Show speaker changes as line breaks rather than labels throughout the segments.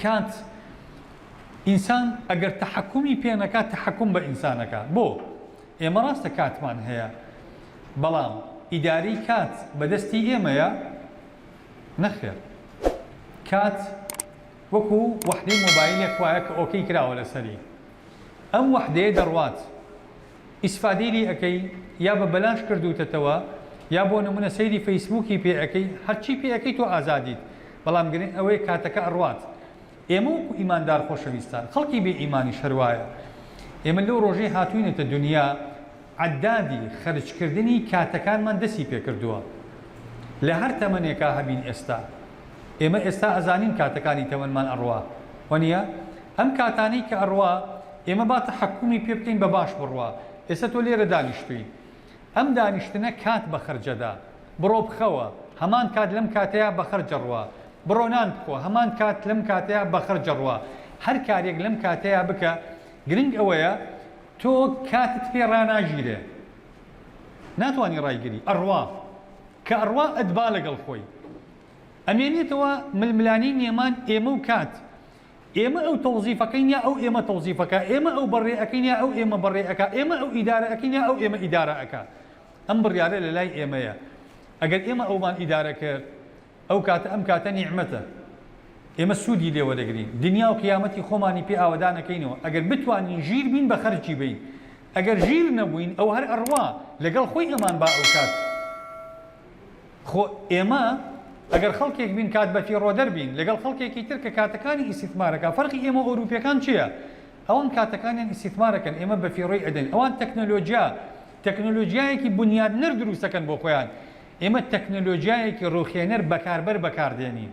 کانت، ئینسان ئەگەر تەحەکومی پێ نەکا تەحەکوم بە ئینسان ئەکا. بۆ؟ ئێمە ڕاستە کاتمان هەیە، بەڵام ئیدارەی کات بە دەستی ئێمەیە؟ نەخێر. کات وەکو وەحدەی مۆبایلێک وایە کە ئۆکەی کراوە لەسەری. ئەم وەحدەیە دەڕوات. ئیسفادەی لێ ئەکەی یا بە بەلاش کردووتەتەوە یا بۆ نمونە سەیری فەیسبووکی پێ ئەکەی هەرچی پێ ئەکەی تۆ ئازادیت بەڵام گرنگ ئەوەیە کاتەکە ئەڕوات ئێمە وەکو ئیماندار خۆشەویستان خەڵکی بێ ئیمانیش هەر وایە ئێمە لەو ڕۆژەی هاتووینەتە دونیا عەددادی خەرجکردنی کاتەکانمان دەستی پێکردووە لە هەر تەمەنێکا هەبین ئێستا ئێمە ئێستا ئەزانین کاتەکانی تەمەنمان ئەڕوا وەنیە؟ ئەم کاتانەی کە ئەڕوا ئێمە با تەحەکومی پێ بکەین بە باش بڕوا ئێستا تۆ لێرە دانیشتووی ئەم دانیشتنە کات بە خەرجەدا بڕۆ بخەوە هەمان کات لەم کاتەیا بە خەرجەڕوا بڕۆ نان بخۆ هەمان کات لەم کاتەیا بە خەرجەڕوا هەر کارێک لەم کاتەیا بکە گرنگ ئەوەیە تۆ کاتت پێ ڕاناگیرێ ناتوانی ڕایگری ئەڕوا کە ئەڕوا ئەدبا لەگەڵ خۆی ئەمێنێتەوە ململانێی نێمان ئێمە و کات ئێمە ئەو تەوزیف ئەکەین یا ئەو ئێمە تەوزیف ئەکا ئێمە ئەو بەڕێ ئەکەین یا ئەو ئێمە بەڕێ ئەکا ئێمە ئەو ئیدارە ئەکەین یا ئەو ئێمە ئیدارە ئەکا ئەم بڕیارە لە لای ئێمەیە ئەگەر ئێمە ئەومان ئیدارە کرد ئەو کاتە ئەم کاتە نیعمەتە ئێمە سوودی لێ وەدەگرین دنیا و قیامەتی خۆمانی پێ ئاوەدانەکەینەوە ئەگەر بتوانین ژیر بین بە خەرجی بەین ئەگەر ژیر نەبووین ئەو هەر ئەڕوا لەگەڵ خۆی ئەمان با ئەو کات خۆ ئێمە ئەگەر خەڵکێک بین کات بە فیڕۆ دەربین لەگەڵ خەڵکێکی تر کە کاتەکانی ئیسیتمارەکە فەرقی ئێمە ئەوروپیەکان چیە ئەوان کاتەکانیان ئیسیتمارەکەن ئێمە بە فیڕۆی ئەدەین ئەوان تەکنەلۆجیا تەکنەلۆجیایەکی بنیادنەر دروستەکەن بۆ خۆیان ئێمە تەکنەلۆجیایەکی ڕووخێنەر بەکاربەر بەکار دێنین.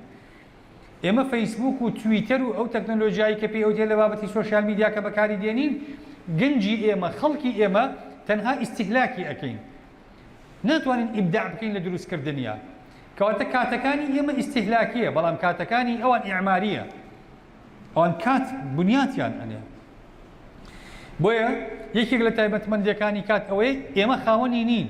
ئێمە فەیسبووک و تویتەر و ئەو تەکنەلۆجیایەی کە پێی ئەوترێت لە بابەتی سۆشیال میدیا کە بەکاری دێنین، گەنجی ئێمە، خەڵکی ئێمە تەنها ئیستیهلاکی ئەکەین. ناتوانین ئیبداع بکەین لە دروست کردنیا. کەواتە کاتەکانی ئێمە ئیستیهلاکیە، بەڵام کاتەکانی ئەوان ئیعماریە. ئەوان کات بنیاتیان ئەنێن. بۆیە یەکێک لە تایبەتمەندیەکانی کات ئەوەیە ئێمە خاوەنی نین.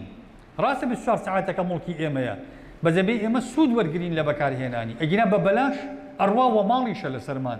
ڕاستە بیست و چوار سەعاتەکە موڵکی ئێمەیە بەجەبەی ئێمە سود وەرگرین لە بەکارهێنانی ئەگینا بە بەلاش ئەڕوا وە ماڵیشە لەسەرمان